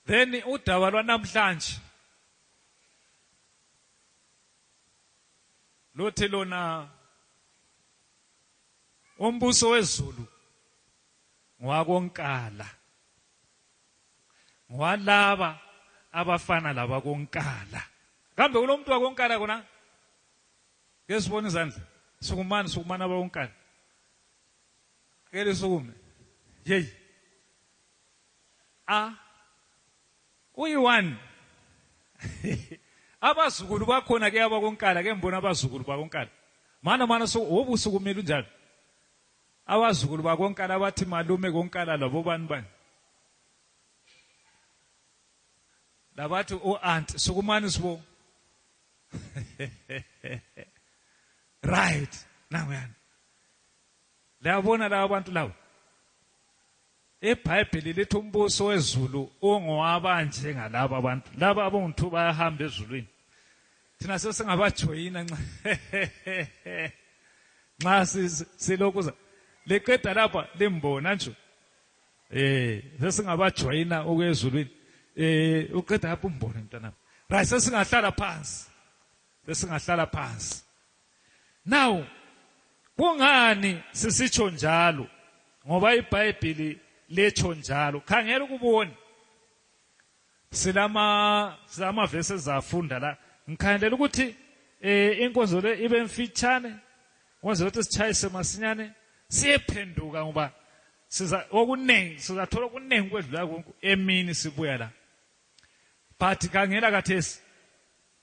then udaba lwanamhlanje lothi lona umbuso wezulu ngwakonkala ngwalaba abafana labakonkala kambe kulomuntu wakonkala kona ke sibone izandla sukumani sukumani abakonkala ke lisukume yeyi a uyi-one abazukulu bakhona ke abakonkala ke mbona abazukulu bakonkala mana mana so wobusuku kumele unjalo abazukulu bakonkala abathi malume konkala labo bani bani labathi o-aunt oh, sukumani sibo right nanguyana liyabona laba bantu labo IBhayibhili lithi umbuso wezulu ungowabanje ngalaba abantu laba abongithu bayahamba ezulwini thina sesingabajoyina nxa nxa silokuza liqeda lapha limbona nje eh sesingabajoyina okwezulwini eh uqeda lapha umbone mntanami right sesingahlala phansi sesingahlala phansi Now kungani sisitsho njalo? Ngoba iBhayibhili letsho njalo. Khangela ukubona. Silama silama verses zafunda la. Ngikhandelela ukuthi eh inkonzo le ibe mfitshane. Kwenza ukuthi sichayise masinyane siyephenduka ngoba siza okuningi sizathola okuningi kwedlula konke emini sibuya la. But kangela kathesi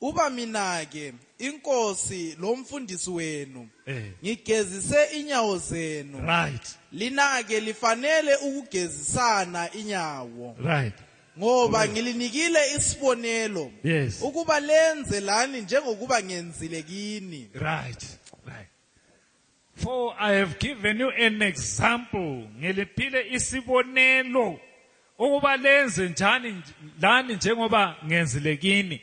Uba mina-ke, inkosi lomfundisi wenu, Eh. ngigezise inyawo zenu. Right. Lina-ke lifanele ukugezisana inyawo. Right. Ngoba ngilinikile isibonelo Yes. ukuba lenze lani njengokuba ngenzile kini. Right. Right. For I have given you an example ngiliphile isibonelo ukuba lenze njani lani njengoba ngenzile kini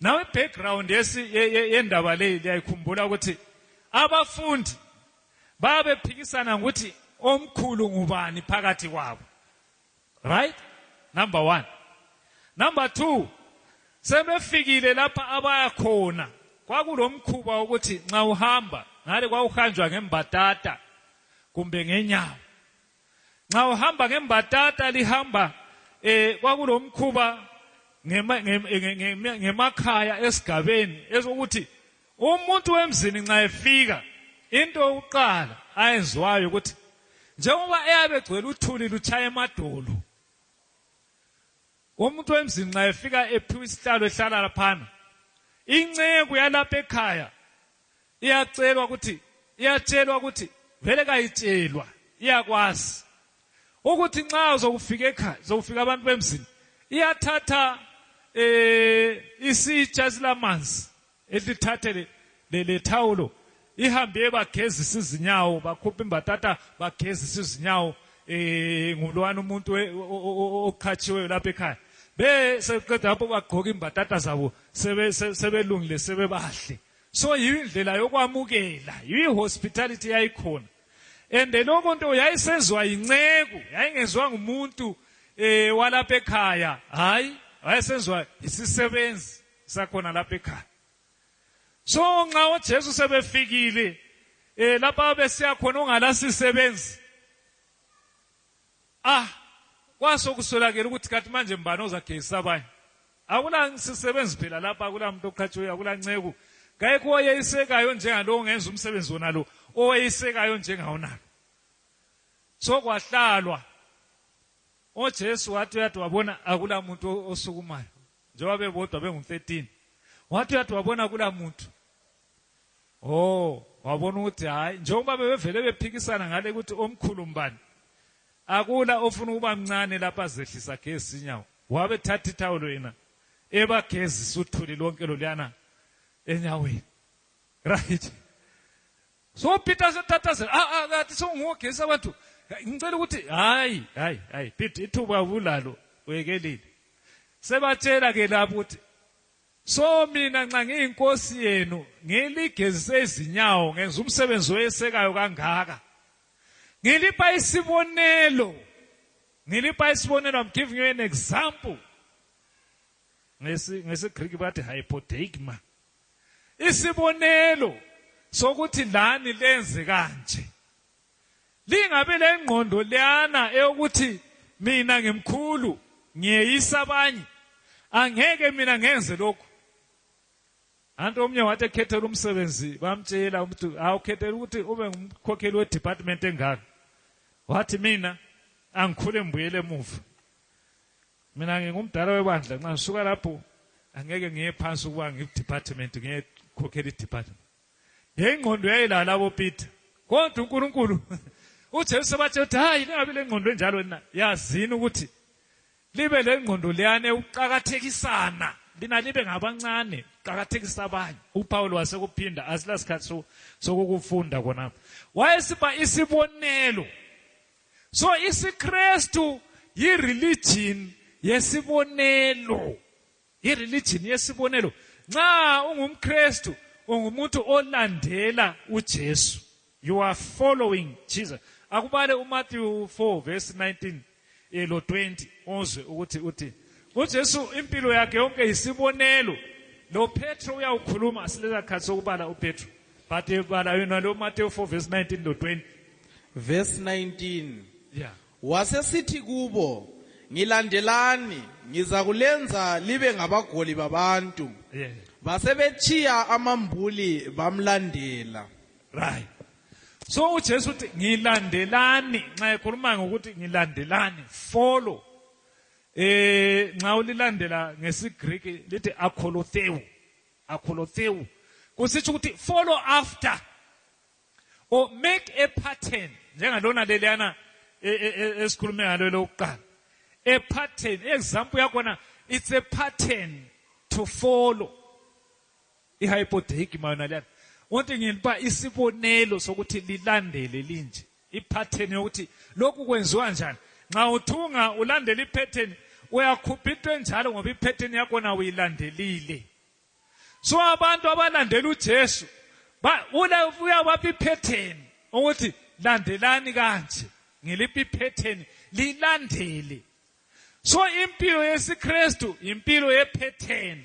nawe background yendaba leyi liyayikhumbula ukuthi abafundi babephikisana ngokuthi omkhulu ngubani phakathi kwabo right number 1 number 2 sebefikile lapha abaya khona kwakulomkhuba ukuthi nxa uhamba ngale kwawuhanjwa ngembatata kumbe ngenyawo nxa uhamba ngembatata lihamba eh kwakulomkhuba ngemakhaya esigabeni esokuthi umuntu wemzini nxa efika into yokuqala ayenziwayo ukuthi njengoba eyabe egcwele uthuli lutshaya emadolo umuntu wemzini nxa efika ephiwa isihlalo ehlala laphana inceku yalapha ekhaya iyacelwa ukuthi iyatshelwa ukuthi vele kayitshelwa iyakwazi ukuthi nxa uzokufika ekhaya zokufika abantu bemzini iyathatha eh isitsha silamanzi elithathe le, le, le thawulo ihambe bagezisa izinyawo bakhupha imbatata bagezisa izinyawo eh ngulwana umuntu oqhatshiweyo lapha ekhaya be seqeda lapho bagqoka imbatata zabo sebe sebelungile sebebahle so yindlela yokwamukela yihospitality yayikhona and lokho nto yayisenzwa yinceku yayingenzwa ngumuntu eh walapha ekhaya hayi wayesenzwa yisisebenzi sakhona lapha ekhaya so nxa ojesu sebefikile um lapha besiya khona ongalasisebenzi ah kwaso kuswelakele ukuthi kathi manje mbani ozagezisa abanye akulasisebenzi phela lapha akulamuntu oqhatshiweyo akulanceku kayikho owayeyisekayo njengalo ongenza umsebenzi wona lo owayeyisekayo njengawonalo so kwahlalwa ojesu wathi uyathi wabona akulamuntu osukumayo njengoba bebodwa bengu-13 wathi uyathi wabona kula muntu o oh, wabona ukuthi hhayi njengoba bebevele bephikisana ngale ukuthi omkhulu mbani akula ofuna ukuba mncane lapha azehlisa gezi inyawo wabe thatha ithawulo yena ebagezisa uthuli lonke loluyana enyaweni right so peter asetatazela ah, ah, ah, athi songogesa abantu ngicela ukuthi hayi hayi hayi peter ithuba ulalo wekelile sebatshela ke lapho ukuthi so mina nxa ngiyinkosi yenu ngiligezise izinyawo ngenza umsebenzi oyesekayo kangaka ngilipha isibonelo ngilipha isibonelo i'm giving you an example ngesi ngesi greek bathi hypodeigma isibonelo sokuthi lani lenze kanje lingabe lengqondo leyana eyokuthi mina ngimkhulu ngiyeyisa abanye angeke mina ngenze lokhu anti omnye wathi ekhethela umsebenzi bamtshela ukuthi awukhethela ukuthi ube ngumkhokheli wedepartment engaka wathi mina angikhule mbuyele emuva mina ngingumdala webandla nxa ngisuka lapho angeke ngiye phansi ukuba ngidepartment ngiyekhokhela idepartment yengqondo yayilala labo peter kodwa unkulunkulu ujesu bathi uthi hayi lingabi lengqondo enjalo na yazini ukuthi libe lengqondo leyane ukuqakathekisana lina libe ngabancane qakathekisa abanye upawulo wasekuphinda asilasikhathi sokukufunda khonapho wayesiba isibonelo so isikristu yireligion yesibonelo yireligion yesibonelo nxa ungumkristu ungumuntu olandela ujesu you are following jesus akubale umatthew 4 verse 19 elo 20 uzwe ukuthi uthi ujesu impilo yakhe yonke yisibonelo lopetro uyawukhuluma silezakhathi sokubala upetro But if but you know Matthew 4 verse 19 to 20. Verse 19. Yeah. Wasesithi kubo ngilandelani ngizakulenza libe ngabagoli babantu. Yeah. Basebechiya amambuli bamlandela. Right. So uJesu uthi ngilandelani nxa ekhuluma ngokuthi ngilandelani follow eh nxa ulilandela ngesiGreek lithi akholotheu akholotseu kusitsho ukuthi follow after or make a pattern njengalona leliyana e, e, e, esikhulume ngalo elokuqala a pattern example yakhona it's a pattern to follow ihypotheki mayona liyana wonke ngiba isibonelo sokuthi lilandele linje ipattern yokuthi lokhu kwenziwa njani nxa uthunga ulandela ipattern uyakhupha into enjalo ngoba ipattern yakhona uyilandelile so abantu abalandela uJesu uyabapha ipattern ukuthi landelani kanje ngiliphi ipattern lilandele so impilo yesiKristu impilo yepattern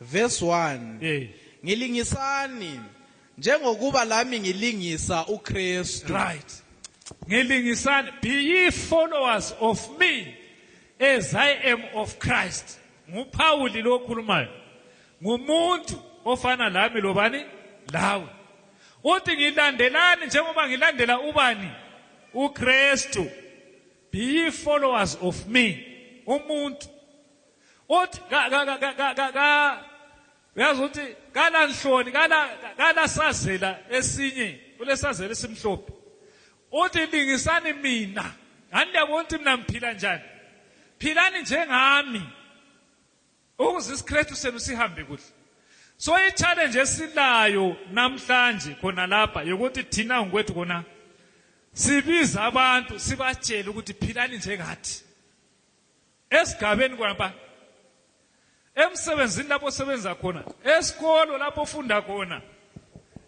Verse 1. Eh. Ngilingisani njengokuba lami ngilingisa uKristu. Right. Ngilingisani be ye followers of me as I am of Christ. NguPawuli lo okhulumayo. Ngumuntu ofana lami lobani? Lawe. Uthi ngilandelani njengoba ngilandela ubani? uKristu. Be ye followers of me. Umuntu uthi uyazi ukuthi kala nhloni kala sazela esinye kulesazela esimhlophe uthi lingisani mina ngani liyabona ukuthi mina ngiphila njani philani njengami ukuze isikristu senu sihambe kuhle so i-challenge esilayo namhlanje khona lapha yokuthi thina ngokwethu kona sibiza abantu sibatshele ukuthi philani njengathi esigabeni kwamba emsebenzini lapho osebenza khona esikolo lapho ofunda khona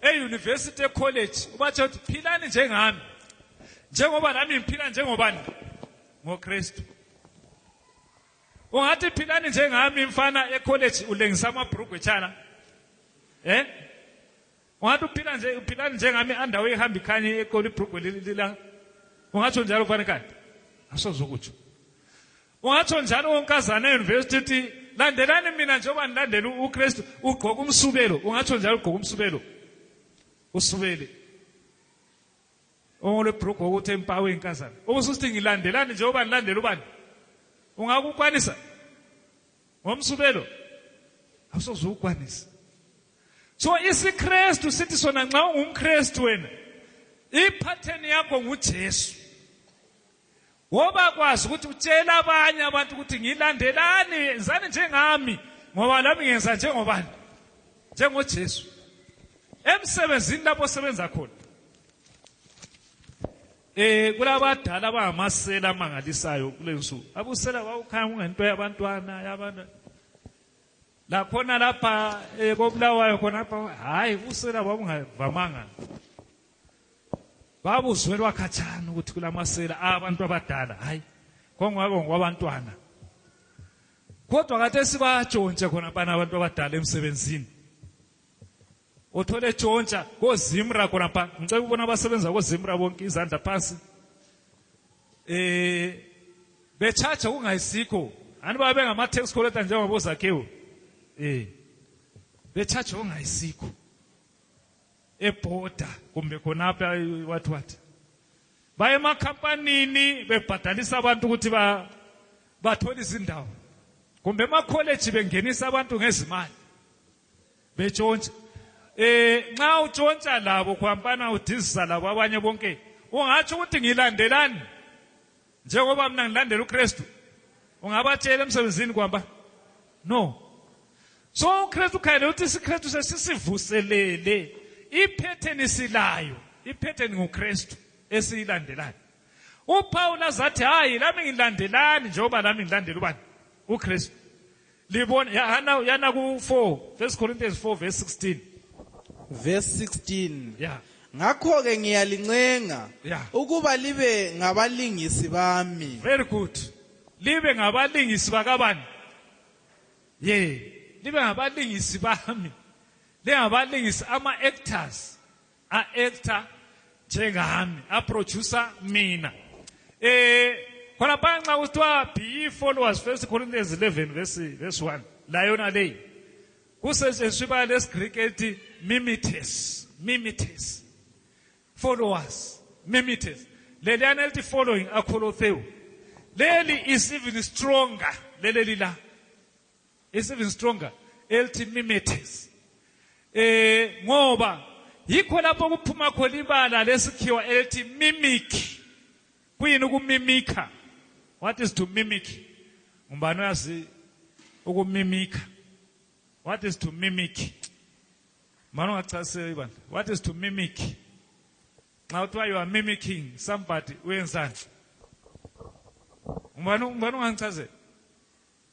eyunivesithi ecollege ubatshela ukuthi philani njengami njengoba nami ngiphila njengobani ngokristu ungathi philani njengami mfana ecollege ulengisa amabhrugwe tshana um eh? ungathi uphila nje uphila njengami andawo ehamba ikhanye ekolo ibrugwe lila ungatsho njalo fane kanti asoze ukutsho ungatsho njalo onkazana eyunivesithi uthi landelani mina njengoba ndilandela ukristu ugqoka umsubelo ungatsho njalo ugqoka umsubelo usubele ongolwebhrugwe ukuthi empawu eyinkazana okususithi ngilandelani njengoba ndilandela ubani ungakukwanisa ngomsubelo awusoze ukwanisa so isikrestu sithi sona nxa ungumkrestu wena iphatheni yakho ngujesu woba kwazi ukuthi utshela abanye abantu ukuthi ngilandelani yenzani njengami ngoba lami ngenza njengobani njengojesu emsebenzini lapho osebenza khona eh kulabadala abangamasela amangalisayo kulensuku abusela wawukhaya kungento yabantwana yabantwana lakhona lapha eh, kobulawayo khonapha hhayi usela babungavamanga babuzwelwa khatshana ukuthi kulamasela abantu abadala hhayi kongwako ngokwabantwana kodwa kade sibajonshe khona bana abantu abadala emsebenzini uthole tshontsha kozimra khonapha ngicela ukubona abasebenza kozimra bonke izandla phansi eh bechacha kungayisikho ani babe ngama tax collector njengoba bozakhiwo eh bechacha kungayisikho eborder kumbe khonapha what what baye emakhampanini bebhadalisa abantu ukuthi ba bathole izindawo kumbe emakholeji bengenisa abantu ngezimali betshontsha eh nxa utshontsha labo khwampana udizisa labo abanye bonke ungatsho ukuthi ngilandelani njengoba mina ngilandela uKristu ungabatshela emsebenzini kwamba no so uKristu khayele uthi isikristu sesisivuselele iphetheni silayo iphetheni nguKristu esiyilandelayo uPawula zathi hayi lami ngilandelani njengoba lami ngilandela ubani uKristu libona yana yana ku 4 1 Corinthians 4 verse 16 verse 16 yeah ngakho ke ngiyalincenga yeah. ukuba libe ngabalingisi bami very good libe ngabalingisi bakabani ye yeah. libe ngabalingisi bami lingabalingisi ama actors a actor njengami a producer mina eh khona phanxa kuthiwa be followers first corinthians 11 verse verse 1 la yona leyi kusetshenziswa ibala lesigriki elithi mimites mimites followers mimites leliyana elithi following akholotheu leli is even stronger leleli la It's even stronger. Elthi mimetis. Eh ngoba yikho lapho kuphuma khona ibala lesikhiwa elthi mimic. Kuyini ukumimika? What is to mimic? Umbani uyazi ukumimika. What is to mimic? Mano ngachasisa ibani. What is to mimic? Nxa uthiwa you are mimicking somebody uyenzani? Umbani umbani ungangichazela?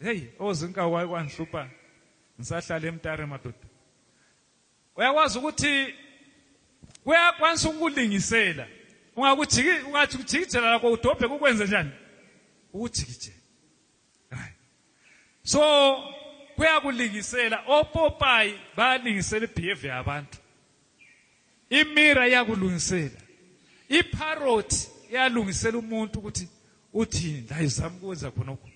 heyi ozinka waye kwangihlupha ngisahlala emtare madoda uyakwazi ukuthi kuyakwanisa ukukulingisela ungakujiki ungathi kujikijela lakho udobhe kukwenze njani ukujikijela hayi so kuyakulingisela opopayi bayalingisela ibehavior yabantu imira iyakulungisela iparrot iyalungisela umuntu ukuthi uthini la izama ukwenza khonokho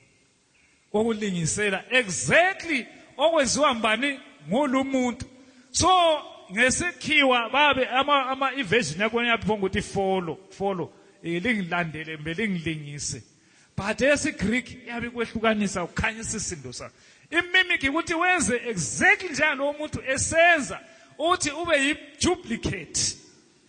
kokulingisela exactly okwenziwa mbani ngulu muntu so ngesikhiwa babe ama ama evasion yakho yaphonga ukuthi follow follow lingilandele mbe lingilingise but esigreek iyabe ikwehlukanisa ukhanyisa isindo sakho imimic ukuthi wenze exactly njengalowo muntu esenza uthi ube yiduplicate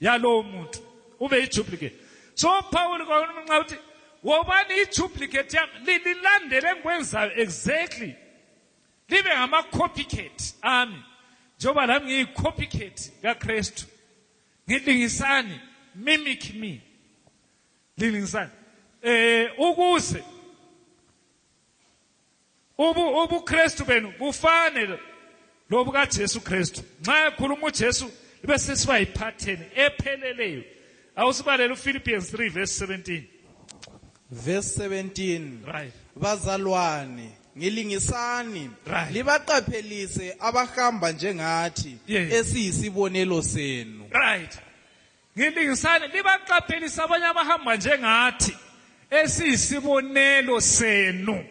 yalowo muntu ube yiduplicate so pawuli kwakunxa ukuthi wobani iduplicate yami lilandele engikwenzayo exactly libe ngama-copycat ami njengoba lami ngiyi-copycat kakristu ngilingisani mimic me Lilingisani. Eh ukuze ubu ubuKristu benu bufane lobuka Jesu Kristu. Nxa ekhuluma uJesu ibe sesiba yiphatheni epheleleyo. Awusibalele uPhilippians 3 verse 17. Verse 17. Right. Bazalwane ngilingisani right. libaqaphelise abahamba njengathi yes. esiyisibonelo senu right Ngilingisani libaqaphelisa abanye abahamba njengathi esiyisibonelo senu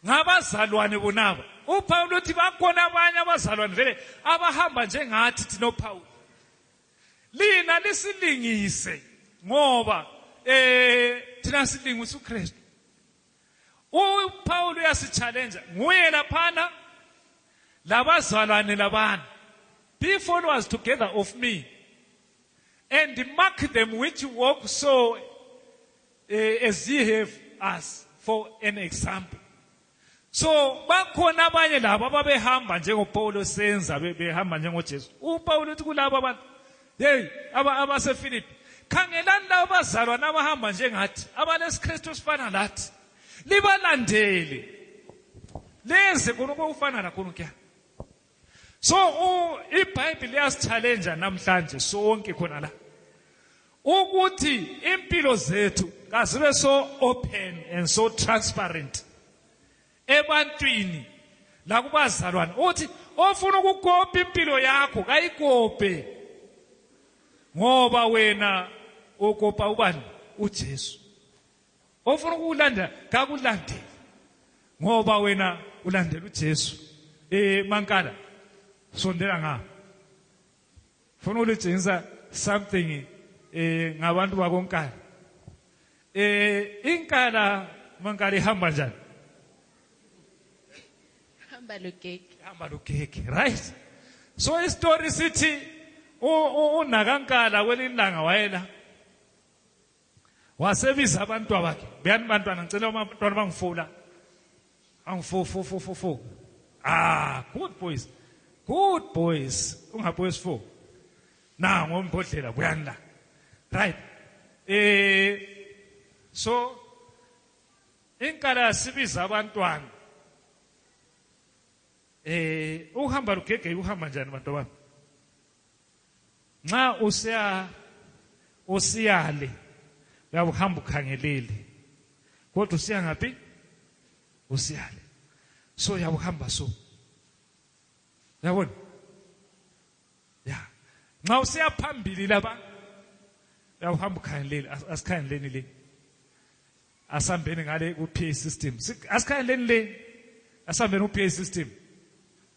ngabazalwane bonaba uPawulu uthi bakhona abanye abazalwane vele abahamba njengathi thina uPawulu lina lisilingise ngoba eh thina silingisa uKristu uPaul uyasichallenge nguye laphana labazalwane labana be followers together of me and mark them which walk so uh, as ye have us for an example so bakhona abanye labo ababehamba njengopawulo senza behamba njengojesu upawulo uthi kulabo abantu Hey, aba abaseFiliphi. Khangelani labo bazalwane abahamba njengathi, abalesikristu esifana lathi. Libalandele. Lenze khona okufana lakho kuya. So iBhayibheli liyasichallenja namhlanje sonke khona la. Ukuthi impilo zethu kazibe so open and so transparent. ebantwini lakubazalwane uthi ofuna ukukopa impilo yakho kayikope ngoba wena okopa ubani uJesu ofuna ukulanda kakulandele ngoba wena ulandela uJesu eh mankala sondela ngapha funa ulijinsa something eh ngabantu bakonkala eh inkala mankala ihamba njani hamba lugege ihamba lugege right so isitori sithi unakankala kwelinye ilanga wayela wasebiza abantu bakhe beyani bantwana ngicela abantwana bangifula angifo fo fo fo fo ah good boys good boys ungabuye sifo na ngombodlela buyani la right eh so inkala yasibiza abantwana eh uhamba lugege uhamba njani bantu bami nxa usiya usiyale uyabe uhamba ukhangelile kodwa usiya ngaphi usiyale so uyabe uhamba so yabona ya nxa usiya phambili laba uyabe uhamba ukhangelile asikhangeleni le asambeni ngale ku-pa system asikhangeleni le asambeni ku-pa system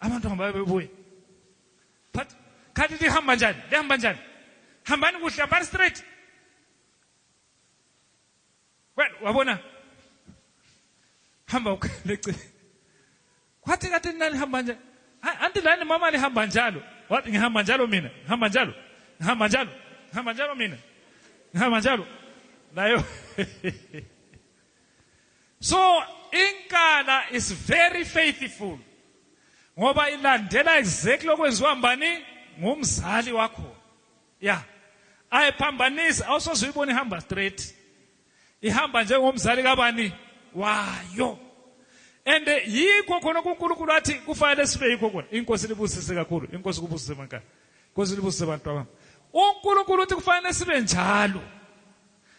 abantu hamba bebuye but khathi lihamba njani lihamba njani hambani kuhle hambani straight well wabona hamba ukhaleche kwathi kade nalihamba njalo anti lani mama lihamba njalo wathi ngihamba njalo mina ngihamba njalo ngihamba njalo ngihamba njalo mina ngihamba njalo nayo So inkala is very faithful ngoba ilandela exactly okwenziwa mbani ngumzali wakho ya ayiphambanisi awusoze uyibone ihamba straight ihamba njengomzali kabani wayo and yikho khona uNkulunkulu athi kufanele sibe yikho khona inkosi libusise kakhulu inkosi kubusise mankani inkosi libusise bantu bami uNkulunkulu uthi kufanele sibe njalo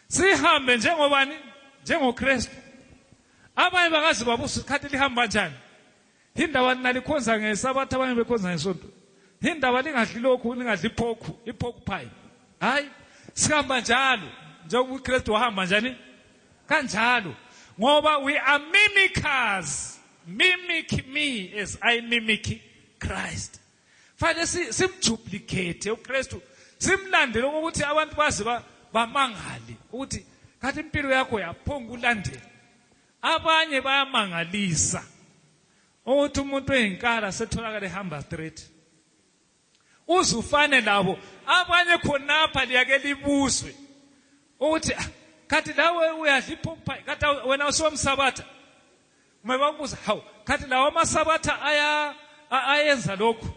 sihambe njengobani njengokristu abanye bakazi babusa isikhathi lihamba njani indaba nina likhonza ngesabatha abanye bekhonza ngesonto indaba lingadli lokhu lingadli iphokhu iphokhu phayi hayi sihamba njalo njengoba ukristu wahamba njani kanjalo ngoba we are mimickers mimic me as i mimic christ fanele simjuplikethe ukristu simlandele ukuthi abantu baze bamangale ukuthi kathi impilo yakho yaphonga ukulandela abanye bayamangalisa ukuthi umuntu oyinkala setholakala ehamba straight uze ufane labo abanye khonapha liyake libuzwe ukuthi ah, kati lawe uyadlipha umphai kati wena usiwomsabatha uma babuza hawu khathi lawo amasabatha aya ayenza lokhu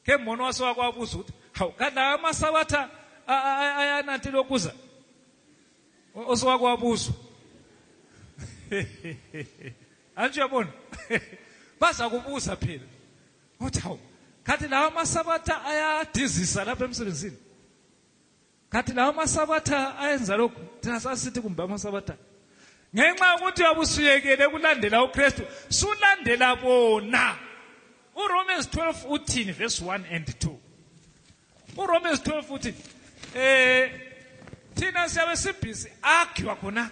ke mbono wase wakwabuza ukuthi hawu khathi lawo amasabatha ayananti lokuza osewakwabuzwa anti uyabona baza kubuza phela ukuthi hawu khathi lawo amasabatha ayadizisa lapha emsebenzini kati lawo masabatha ayenza lokhu thina sasisithi kumbe amasabatha ngenxa yokuthi wabusuyekele ukulandela ukristu sulandela bona uromans 12 uthini verse 1 and 2 uromans 12 uthini um eh, thina siyabe sibhizi agiwa khona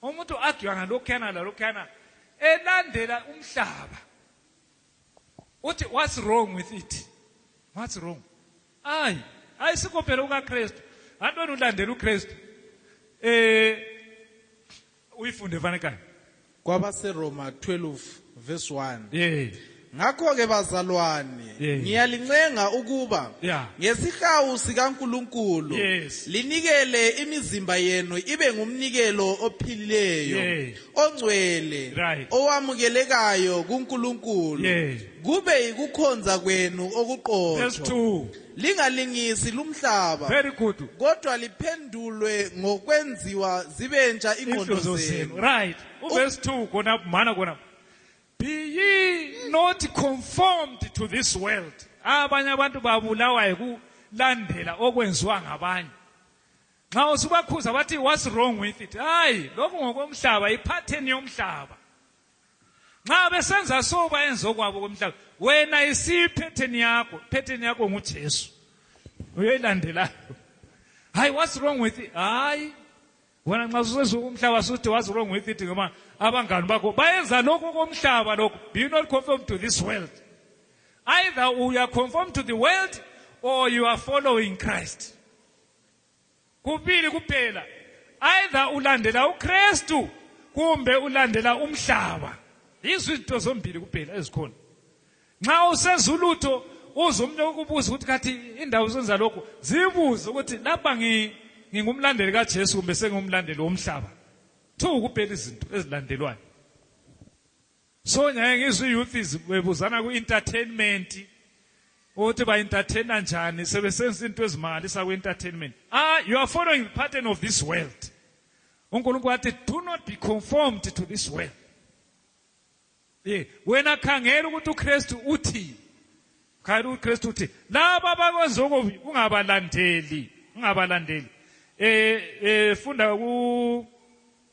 umuntu agiwa ngalokhuyana lalokhuyana elandela umhlaba uthi what's wrong with it what's wrong ayi ayisikho phela ukakristu antoni ulandela ukristu eh uyifunde fanekani kwabaseroma 12 verse 1 yeah. ngakho-ke bazalwane yeah. ngiyalincenga ukuba yeah. ngesihawu sikankulunkulu yes. linikele imizimba yenu ibe ngumnikelo ophilileyo yeah. ongcwele Right. owamukelekayo kuNkulunkulu Yes. kube yikukhonza kwenu Verse okuqotho 2. lingalingisi lumhlaba Very good. kodwa liphendulwe ngokwenziwa zibentsha ingqondo Inhloso zenu. zenu Right. Verse 2 khona mana khona. Be ye not conformed to this world. Abanye abantu babulawa yikulandela okwenziwa ngabanye. nxa usubakhuza bathi what's wrong with it hayi lokhu ngokomhlaba iphatheni yomhlaba nxa besenza so bayenza okwabo komhlaba wena isiyiphetheni yakho phetheni yakho ngujesu uyoyilandelayo hayi what's wrong with it hayi wena nxa susenza okomhlaba suthi what's wrong with it ngoba abangani bakho bayenza lokhu komhlaba lokhu be you not conform to this world either you are conform to the world or you are following christ kubili kuphela either ulandela uKristu kumbe ulandela umhlaba yizo izinto zombili kuphela ezikhona nxa usezulutho uze umuntu ukubuza ukuthi kathi indawo zenza lokhu zibuze ukuthi lapha ngingumlandeli kaJesu kumbe sengumlandeli womhlaba two kuphela izinto ezilandelwayo so nyaye ngizwe youth is bebuzana ku entertainment ukuthi ba entertainer njani sebesenza into ezimangalisa ku entertainment ah you are following the pattern of this world uNkulunkulu wathi do not be conformed to this world ye wena khangela ukuthi uKristu uthi khangela uKristu uthi laba abakwenza okubi ungabalandeli ungabalandeli eh eh funda ku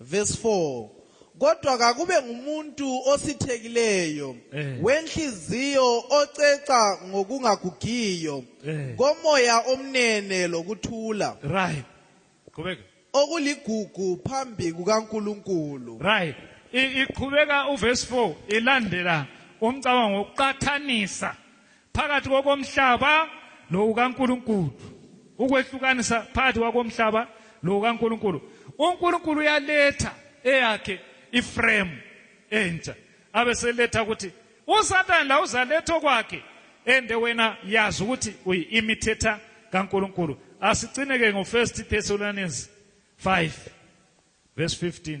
Verse 4 kodwa kakube ngumuntu osithekileyo eh. wenhliziyo oceca ngokungagugiyo eh. komoya omnene lokuthula right qhubeka okuligugu phambi kukaNkuluNkulu right iqhubeka uverse 4 ilandela umcabango wokuqathanisa phakathi kokomhlaba lokukaNkulunkulu ukwehlukanisa phakathi kwakomhlaba lokukaNkulunkulu uNkulunkulu uyaletha eyakhe iframe entsha abeseletha ukuthi uSathane la uzaletha okwakhe ende wena yazi ukuthi uyi-imitator kaNkulunkulu asicineke ngo-1 Thessalonians 5 verse 15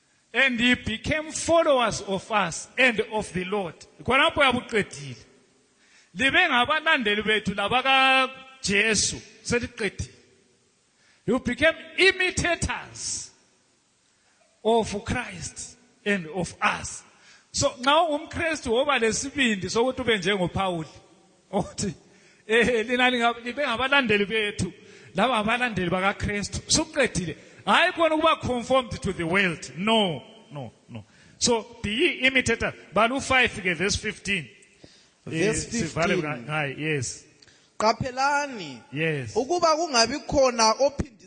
and he became followers of us and of the lord khonapho yabuqedile libe ngabalandeli bethu labakajesu seliqedile you became imitators of christ and of us so nxa ungumkristu woba lesibindi sokuthi ube njengophawuli othi eh lina libe ngabalandeli bethu laba abalandeli bakaKristu suqedile hayi kona ukuba conformed to the world no no no so be ye imitator balu 5 ke verse 15 verse 15 eh, yes qaphelani yes ukuba kungabi khona ophinde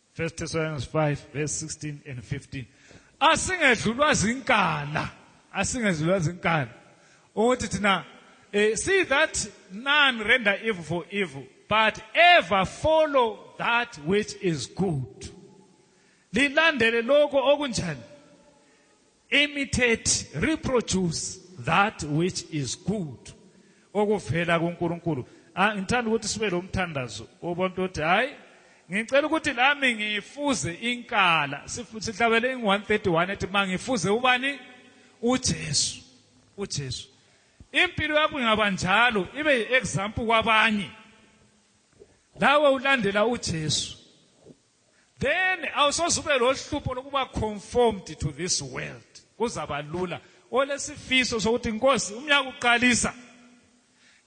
1 Thessalonians 5 verse 16 and 15 asingedlulwa zinkala asingedlulwa zinkala ukuthi thina eh, see that none render evil for evil but ever follow that which is good lilandele lokho okunjani imitate reproduce that which is good okuvela kuNkulunkulu ah, ngithanda ukuthi sibe lomthandazo obonto ukuthi hayi ngicela ukuthi lami ngifuze inkala sihlabele ing-131 ethi ma ngifuze ubani ujesu ujesu impilo yakho ingaba njalo ibe yi-example kwabanye lawe ulandela ujesu then awusoze ube lohlupho lokuba conformed to this world kuzaba lula olesifiso sokuthi inkosi umnyaka uqalisa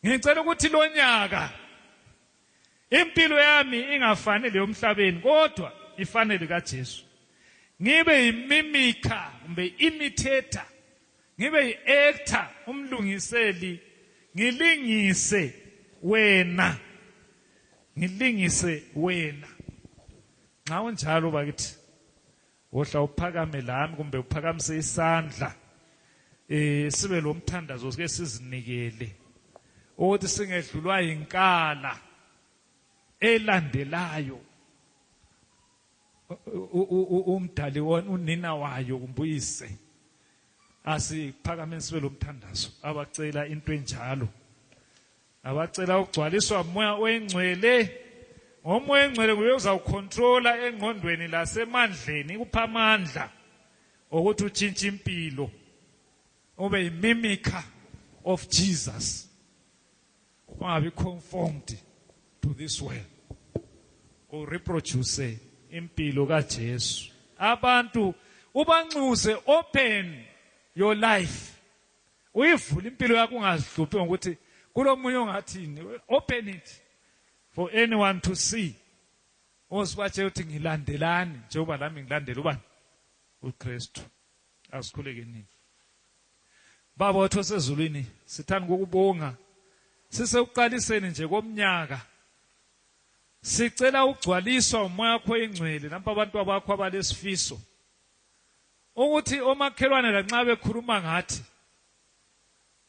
ngicela ukuthi lonyaka impilo yami ingafani leyomhlabeni kodwa ifane likaJesu ngibe yimimikha kumbe imitator ngibe yi-actor umlungiseli ngilingise wena ngilingise wena nxa unjalo bakithi wohla uphakame lami kumbe uphakamise isandla eh sibe lomthandazo sike sizinikele ukuthi singedlulwa yinkala elandelayo umdali unina wayo kumbuyise asiphakame sibe lomthandazo abacela into enjalo abacela ukugcwaliswa umoya oyingcwele ngomoya oyingcwele nguye uzawukhontrola engqondweni lasemandleni ikupha amandla okuthi utshintshe impilo ube yimimika of jesus ungabi conformed to this world ureproduce impilo kajesu abantu ubanxuse open your life uyivula impilo yakho ungazihluphi ngokuthi kulomunye ongathini open it for anyone to see osibatshe ukuthi ngilandelani njengoba lami ngilandela ubani uKristu asikhuleke nini baba wethu osezulwini sithanda ukubonga sisekuqaliseni nje komnyaka sicela ugcwaliswa umoya wakho ingcwele nampa abantu abakho abalesifiso ukuthi omakhelwane lanxa bekhuluma ngathi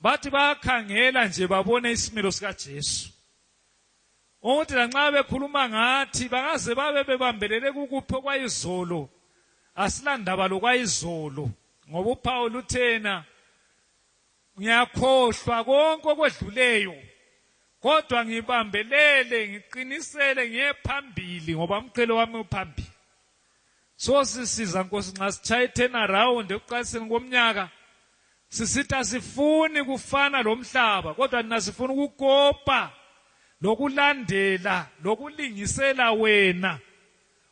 bathi bayakhangela nje babone isimilo sikaJesu ukuthi lanxa bekhuluma ngathi bangaze babe bebambelele kukuphi okwayizolo asilandaba lokwayizolo ngoba uphawu luthena ngiyakhohlwa konke okwedluleyo kodwa ngibambelele ngiqinisele ngiye phambili ngoba umqhelo wami uphambili so sisiza nkosi nxa sitshaya i-turnaround ekuqaliseni komnyaka sisithi asifuni kufana lo mhlaba kodwa nina sifuna ukukopa lokulandela lokulingisela wena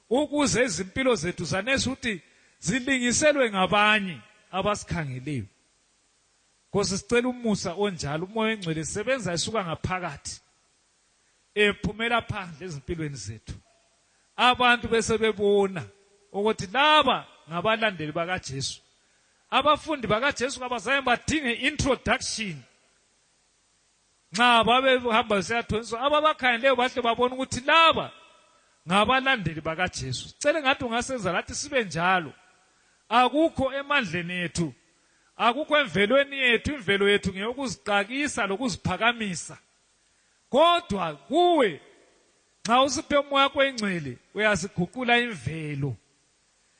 ukuze izimpilo zethu zanesi ukuthi zilingiselwe ngabanye abasikhangeleyo nkosi sicela umusa onjalo umoya engcwele sebenza isuka ngaphakathi ephumela phandle ezimpilweni zethu abantu bese bebona ukuthi laba ngabalandeli bakaJesu abafundi bakaJesu kabazange badinge introduction nxa babehamba besiyathoniswa ababakhangeleyo bahle babona ukuthi laba ngabalandeli bakaJesu cele ngathi ungasenza lathi sibe njalo akukho emandleni ethu akukho emvelweni yethu imvelo yethu ngeyokuziqakisa lokuziphakamisa kodwa kuwe nxa usiphe umoya wakho engcwele uyasiguqula imvelo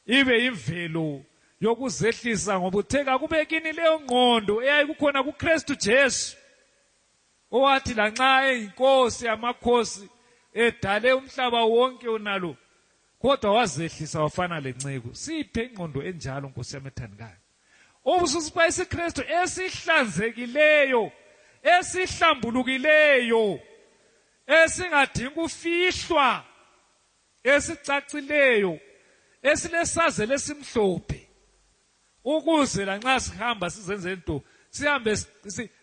ibe imvelo yokuzehlisa ngoba uthe kakube kini leyo ngqondo eyayikukhona kukristu jesu owathi lanxa eyinkosi yamakhosi edale umhlaba wonke unalo kodwa wazehlisa wafana lenceku siphe ingqondo enjalo nkosi yami ethandikayo Ubususipha isiKristu esihlanzekileyo, esihlambulukileyo, esingadingi kufihlwa, esicacileyo, esilesazelo esimhlophe. Ukuze lanxa sihamba sizenze into sihambe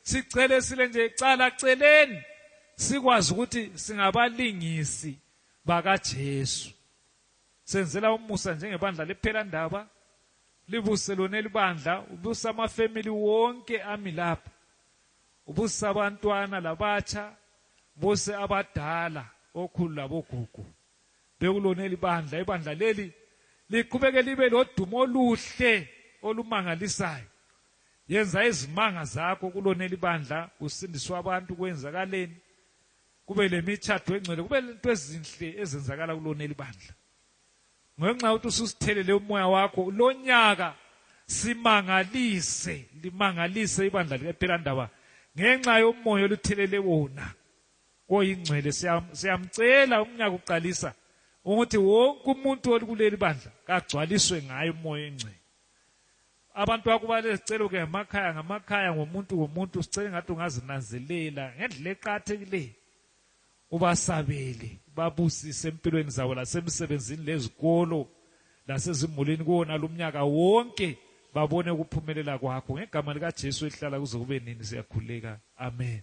sicele sile nje cala celeni sikwazi ukuthi singabalingisi bakaJesu. Senzela umusa njengebandla lephelandaba. libuse lona elibandla ubuse amafamily wonke ami lapha ubuse abantwana labatsha buse abadala okhulu labogugu bekulona elibandla ibandla leli liqhubeke libe lodumo oluhle olumangalisayo yenza izimanga zakho kulona elibandla kusindiswa abantu kwenzakaleni kube lemitshatho engcwele kube lento ezinhle ezenzakala kulona elibandla ngenxa yokuthi ususithelele umoya wakho lonyaka simangalise limangalise ibandla likaphilandaba ngenxa yomoya oluthelele wona koyingcwele siyamcela umnyaka uqalisa ukuthi wonke umuntu olikuleli bandla kagcwaliswe ngayo umoya engcwele abantu bakubale sicelo ke ngamakhaya ngamakhaya ngomuntu ngomuntu sicele ngathi ungazinanzelela ngendlela eqathekileyo ubasabele babusise empilweni zabo lasemsebenzini lezikolo lasezimulini kuwona lumnyaka wonke babone ukuphumelela kwakho ngegama likaJesu ehlala kuze kube nini siyakhuleka amen